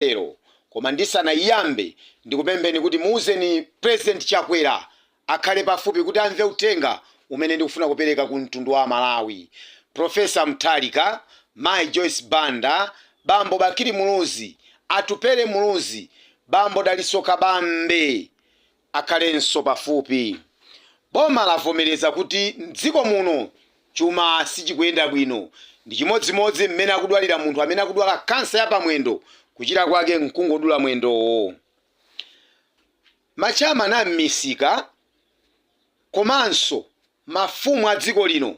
lero koma ndisanaiyambe ndikupempheni kuti muuzeni president chakwera akhale pafupi kuti amve uthenga umene ndikufuna kupereka ku mtundu wa amalawi professor Mutharika, mayi joyce banda, bambo bakili muluzi, atupele muluzi, bambo dalitso kabambe, akhalenso pafupi. Boma lavomereza kuti m'dziko muno chuma sichikuyenda bwino. Ndi chimodzimodzi mmene akudwalira munthu amene akudwala kansa ya pamwendo, kuchira kwake n'kungodula mwendowo. Ma chairman a m'misika komanso Mafumu a dziko lino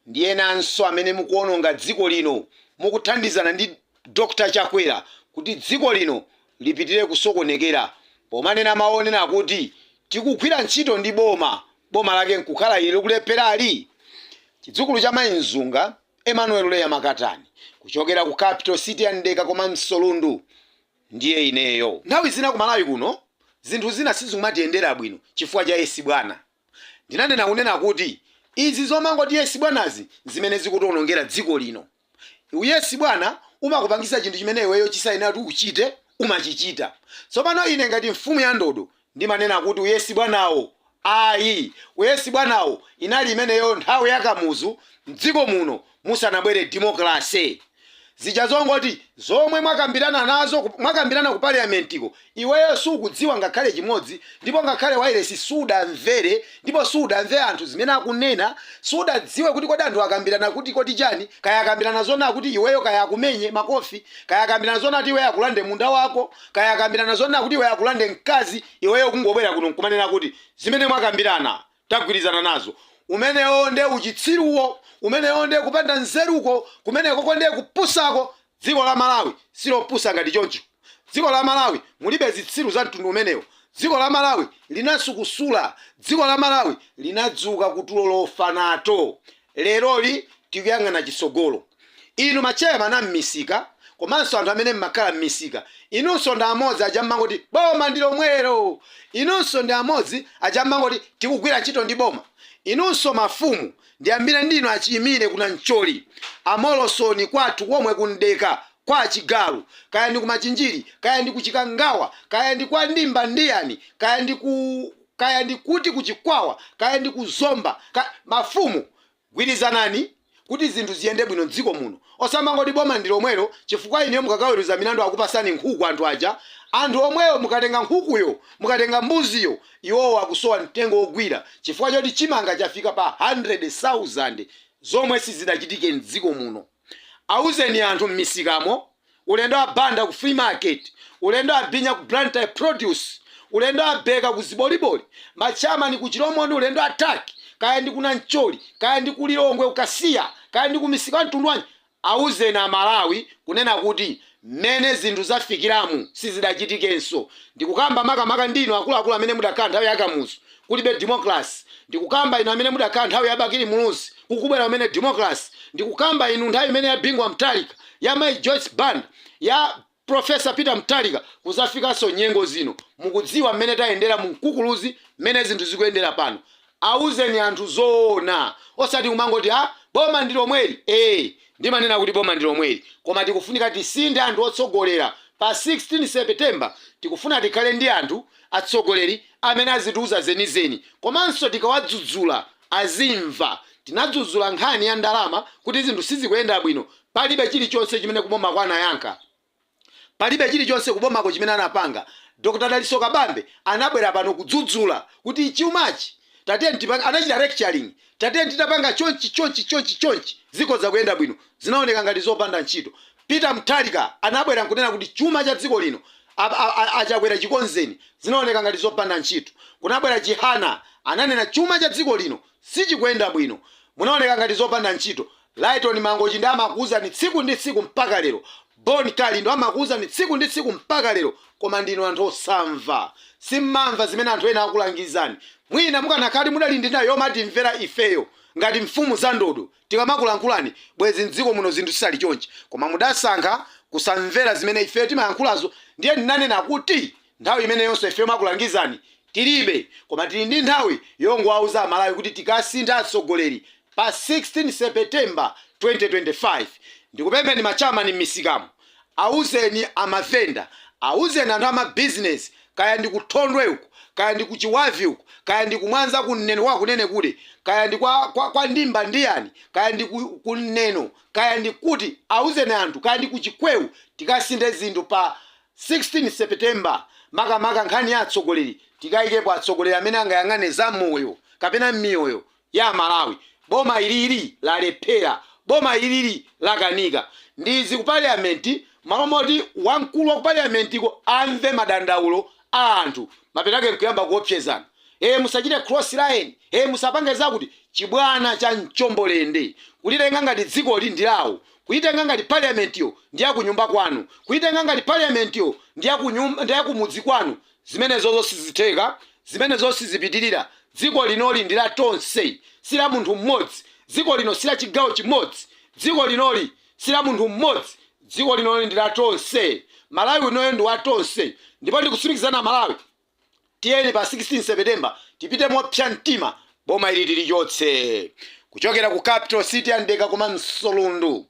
ndi enanso amene mukuononga dziko lino mukuthandizana ndi Dr Chakwera kuti dziko lino lipitire kusokonekera pomanena mawu onena kuti tikugwira ntchito ndi boma, boma lake nkukhala ili likulepherali? Chidzukulu cha Mayi Mzunga, Emmanuel Leah Makatani, kuchokera ku capital city ya Mdeka komanso Lundu ndiye ineyo. Nthawi zina ku Malawi kuno zinthu zina sizimatiyendera bwino chifukwa cha yes bwana. Ndinanena kunena kuti izi zomangoti yes bwanazi nzimene zikutionongera dziko lino. U yes bwana umakupangisa chinthu chimene iweyo chisayenera kuti uchite umachichita. Tsopano ine ngati mfumu ya ndodo ndimanena kuti u yes bwanawo ayi. U yes bwanawo inali imeneyo nthawi ya Kamuzu mdziko muno. musanabwere democracy. Zija zongoti zomwe mwakambirana nazo ku- mwakambirana ku parliamentiko iweyo sukudziwa ngakhale chimodzi ndipo ngakhale wailesi sudamvere ndipo sudamve anthu zimene akunena sudadziwe kuti kodi anthu akambirana kuti chani kaya akambirana zona kuti iweyo kaya akumenye makofi kaya akambirana zona kuti iweyo akulande munda wako kaya akambirana zona kuti iweyo akulande mkazi iweyo kungobwera kuno nkumanena kuti zimene mwakambirana tagwirizana nazo. Umenewo nde uchitsiruwo, umenewo nde kupanda nzeruko, kumenekoko nde kupusako, dziko la Malawi silopusa ngati choncho, dziko la Malawi mulibe zitsiru za mtundu umenewo, dziko la Malawi linasukusula, dziko la Malawi linadzuka ku tulo lofa nato. Leroli tikuyang'ana chitsogolo. Inu ma chairman a mmisika komanso anthu amene mmakhala mmisika, inunso ndi amodzi aja mmangoti boma ndi lomwelo! Inunso ndi amodzi aja mmangoti tikugwira ntchito ndi boma! Inunso mafumu ndiyambire ndinu a Chiimire ku Nancholi, a Molosoni kwathu komwe ku Mdeka, kwa a Chigalu, kaya ndi ku Machinjiri, kaya ndi ku Chikangawa, kaya ndi kwa Nditha ndiyani, kaya ndi ku. kaya ndi kuti ku Chikwawa kaya ndi ku Zomba, mafumu gwirizanani kuti zinthu ziyende bwino m'dziko muno osamangoti boma ndi lomwelo chifukwa inuyo mukakaweruza milandu akupasani nkhuku anthu aja, anthu omweyo mukatenga nkhukuyo, mukatenga mbuziyo iwowo akusowa mtengo wogwira chifukwa choti chimanga chafika pa 100,000 zomwe sizidachitike m'dziko muno. Auzeni anthu m'misikamo, olendo a Banda ku flea market, olendo a Binya ku Blantyre produce, olendo a Beka ku ziboliboli, ma chairman ku Chilomoni, olendo a Tuck, kaya ndi ku Nancholi, kaya ndi ku Lilongwe ku Kasiya, kaya ndi ku misika ya mtundu wanji, auzeni a Malawi kunena kuti Mmene zinthu zafikiramu sizidachitikenso. Ndikukamba makamaka ndi inu akuluakulu amene mudakhala nthawi ya Kamuzu kulibe democracy, ndikukamba inu amene mudakhala nthawi ya Bakili Muluzi kukubwera kumene democracy, ndikukamba inu nthawi imene ya Bingu wa Mutharika, ya mayi Joyce Banda, ya Prof. Peter Mutharika kuzafikanso nyengo zino. Mukudziwa mmene tayendera mu mkukuluzi mmene zinthu zikuyendera pano. Awuzeni anthu zoona osati kumangoti a boma ndilomweli ee ndimanena kuti boma ndilomweli koma tikufunika tisinthe anthu otsogolera pa 16 September tikufuna tikhale ndi anthu atsogoleri amene azitiuza zenizeni komanso tikawadzudzula azimva tinadzudzula nkhani ya ndalama kuti zinthu sizikuyenda bwino palibe chilichonse chimene kubomako anayankha Palibe chilichonse kubomako chimene anapanga. Dr Dalitso Kabambe anabwera pano kudzudzula kuti chumachi tatiyeni tipange, anachita lecturing, tatiyeni titapanga chonchi, chonchi, chonchi, chonchi zikhoza kuyenda bwino. Zinaoneka ngati zopanda ntchito. Peter Mutharika anabwera nkunena kuti chuma cha dziko lino a a Chakwera chikonzeni. Zinaoneka ngati zopanda ntchito. Kunabwera Chihana ananena chuma cha dziko lino sichikuyenda bwino. Munaziona ngati zopanda ntchito. Lyton Mangochi nde amakuuzani tsiku ndi tsiku mpaka lero, Bon Kalindo amakuuzani tsiku ndi tsiku mpaka lero koma ndinu anthu osamva, simmamva zimene anthu ena akulangizani, mwina mukanakhala kuti mudali ndi nthawi yomatimvera ifeyo ngati mfumu za ndodo tikamakulankhulani bwezi mdziko muno zinthu zisali chonchi koma mudasankha kusamvera zimene ifeyo timayankhulazo ndiye ndinanena kuti Nthawi imeneyonso ife yomakulangizani tilibe koma tili ndi nthawi yongowauza amalawi kuti tikasintha atsogoleri pa 16 September 2025. Ndikupempheni ma chairman m'misikamo auzeni amavenda auzeni anthu ama business kaya ndi ku Thondwe uku kaya ndi ku Chibavi uku kaya ndi ku Mwanza ku Neno kwa Kunenekude kaya ndi kwa kwa kwa ndimba ndiyani kaya ndi ku ku Neno kaya ndi kuti auzeni anthu kaya ndi ku Chikweo tikasinthe zinthu pa 16 September, Makamaka nkhani ya atsogoleri, tikaikepo atsogoleri amene angayang'ane za moyo kapena miyoyo ya amalawi. Boma ilili lalephera. Boma ilili lakanika. Ndi izi ku parliament mmalo moti wamkulu wa ku parliament ko amve madandaulo a anthu, mapeto ake nkuyamba kuopsezana. Ee musachite cross line, ee musapange zakuti. Chibwana cha mchombo lende. Kulitenga ngati dzikoli ndi lawo. Kuitenga ngati parliament yo ndi ya kunyumba kwanu, kuitenga ngati parliament yo ndi ya kumudzi kwanu, zimenezozo sizitheka, zimenezozo sizipitirira, dziko linoli ndi la tonse, si la munthu m'modzi, dziko lino si la chigawo chimodzi, dziko linoli si la munthu m'modzi, dziko linoli ndi la tonse, Malawi unoyo ndi wa tonse, ndipo ndikutsimikizirani Amalawi, Tiyeni pa 16 September tipite mopsa mtima boma ili tilichotse kuchokera ku capital city ya mdeka komanso lundu,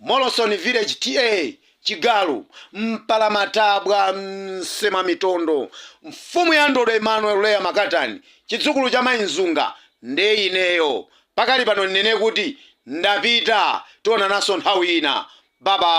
Moloson village TA chigalu, mpalamatabwa, msemamitondo, mfumu ya ndodo Emmanuel Leah Makatani chidzukulu cha mai Nzunga nde ineyo pakali pano ndinene kuti ndapita tionananso nthawi ina babayi.